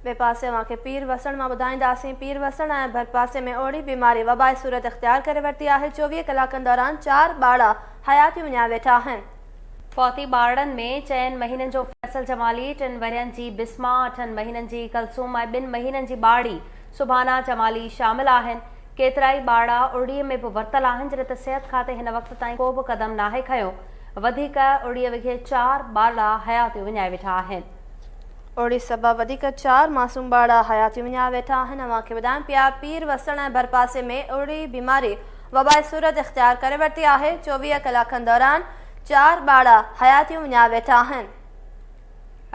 ٻئي پاسي اوهان کي پير وسڻ مان ٻڌائينداسين. پير وسڻ ۽ ڀرپاسي ۾ اوهڙي بيماري وبائي صورت اختيار ڪري ورتي آهي، چوويهه ڪلاڪن دوران چار ٻارڙا حياتيون وڃائي ويٺا آهن. فوتي ٻارڙن ۾ چئن مهينن جو فيصل جمالي، ٽن ورهين جي بسما، اٺن مهينن جي ڪلثوم ۽ ٻن مهينن جي ٻارڙي سبحانا جمالي شامل آهن. ڪيترائي ٻارڙا اوهڙي ۾ به ورتل آهن جڏهن ته صحت کاتي هن وقت تائين ڪو به قدم ناهي کنيو. وڌيڪ اوهڙي وگهي چار ٻارڙا حياتيون وڃائي ويٺا آهن. اوڙي سبب وڌيڪ چار معصوم ٻارڙا حيا ٿي وڃايا ويٺا آهن اوهان کي ٻڌايان پيا پير وسڻ ۽ ڀرپاسي ۾ اوڙي بيماري وبائي صورت اختيار ڪري ورتي آهي چوويهه ڪلاڪن دوران چار ٻارڙا حيا ٿي وڃايا ويٺا آهن.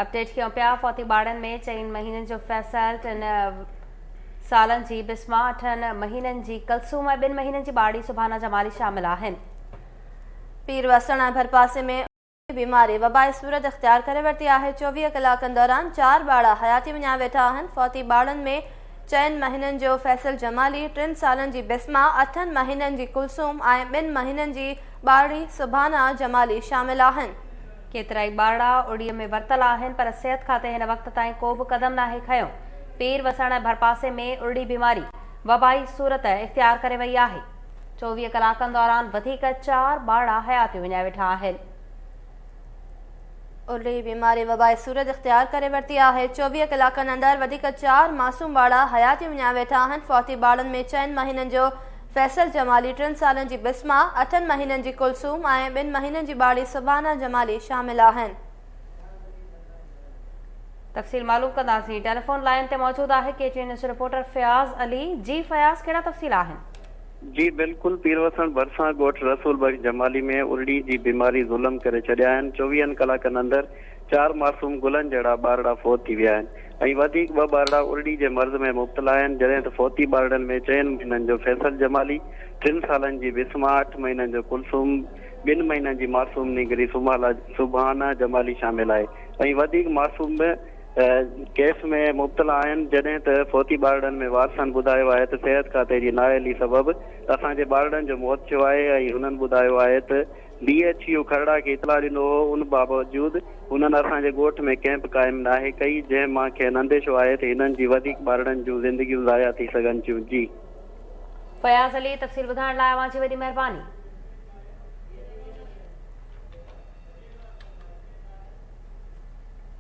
اپڊيٽ ڪيون پيا فوتي ٻارڙن ۾ چئن مهينن جو فيصل ٽن سالن جي بسما اٺن مهينن جي ڪلثوم ۽ ٻن مهينن جي ٻارڙي سبحانه جمالي شامل آهن. پير وسڻ ۽ ڀرپاسي ۾. بيماري وبا صورت اختيار ڪري ورتي آهي، چوويهه ڪلاڪن دوران چار ٻارڙا حياتي وڃايا ويٺا آهن، فوتي ٻارڙن ۾ چئن مهينن جو فيصل جمالي، ٽن سالن جي بسما، اٺن مهينن جي ڪلثوم ۽ ٻن مهينن جي ٻارڙي سبحانه جمالي شامل آهن. ڪيترائي ٻارڙا اڙي ۾ ورتل آهن پر صحت کاتي هن وقت تائين ڪو به قدم ناهي کنيو، پير وسڻ ڀرپاسي ۾ ارڙي بيماري وبائي صورت اختيار ڪري وئي آهي. چوويهه ڪلاڪن دوران وڌيڪ چار ٻارڙا حياتيون وڃائي ويٺا آهن. الري بيماري وبائي صورت اختيار ڪري ورتي آهي، چوويهه ڪلاڪن اندر وڌيڪ چار معصوم ٻارڙا حياتيون وڃائي ويٺا آهن، فوتي ٻارڙن ۾ چئن مهينن جو فيصل جمالي، ٽن سالن جي بسما، اٺن مهينن جي ڪلثوم ۽ ٻن مهينن جي ٻارڙي سبحانه جمالي شامل آهن. تفصيل معلوم ڪنداسين ٽيليفون لائن تي موجود آهي K T news reporter Fayaz Ali ji Fayaz ڪهڙا تفصيل آهن جي بلڪل پيروسڻ ڀرسان ڳوٺ رسول بخش جمالي ۾ ارڙي جي بيماري ظلم ڪري ڇڏيا آهن چوويهن ڪلاڪن اندر چار معصوم گلن جهڙا ٻارڙا فوت ٿي ويا آهن ۽ وڌيڪ ٻه ٻارڙا ارڙي جي مرض ۾ مبتلا آهن جڏهن ته فوتي ٻارڙن ۾ چئن مهينن جو فيصل جمالي ٽن سالن جي بسما اٺ مهينن جو ڪلثوم ٻن مهينن جي معصوم نينگري سبحانه جمالي شامل آهي ۽ وڌيڪ معصوم به ڪيس ۾ مبتلا آهن جڏهن ته فوتي ٻارڙن ۾ وارثن ٻڌايو آهي ته صحت کاتي جي نااهلي سبب اسان جي ٻارڙن جو موت ٿيو آهي ۽ هنن ٻڌايو آهي ته ڊي ايڇ يو کهڙا کي اطلاع ڏنو هو ان باوجود هنن اسان جي ڳوٺ ۾ ڪئمپ قائم ناهي ڪئي جنهن مان کين انديشو آهي ته هنن جي وڌيڪ ٻارڙن جون زندگيون ضايع ٿي سگهن ٿيون جي. فياض علي تفصيل ٻڌائڻ لاء اوهان جي وڏي مهرباني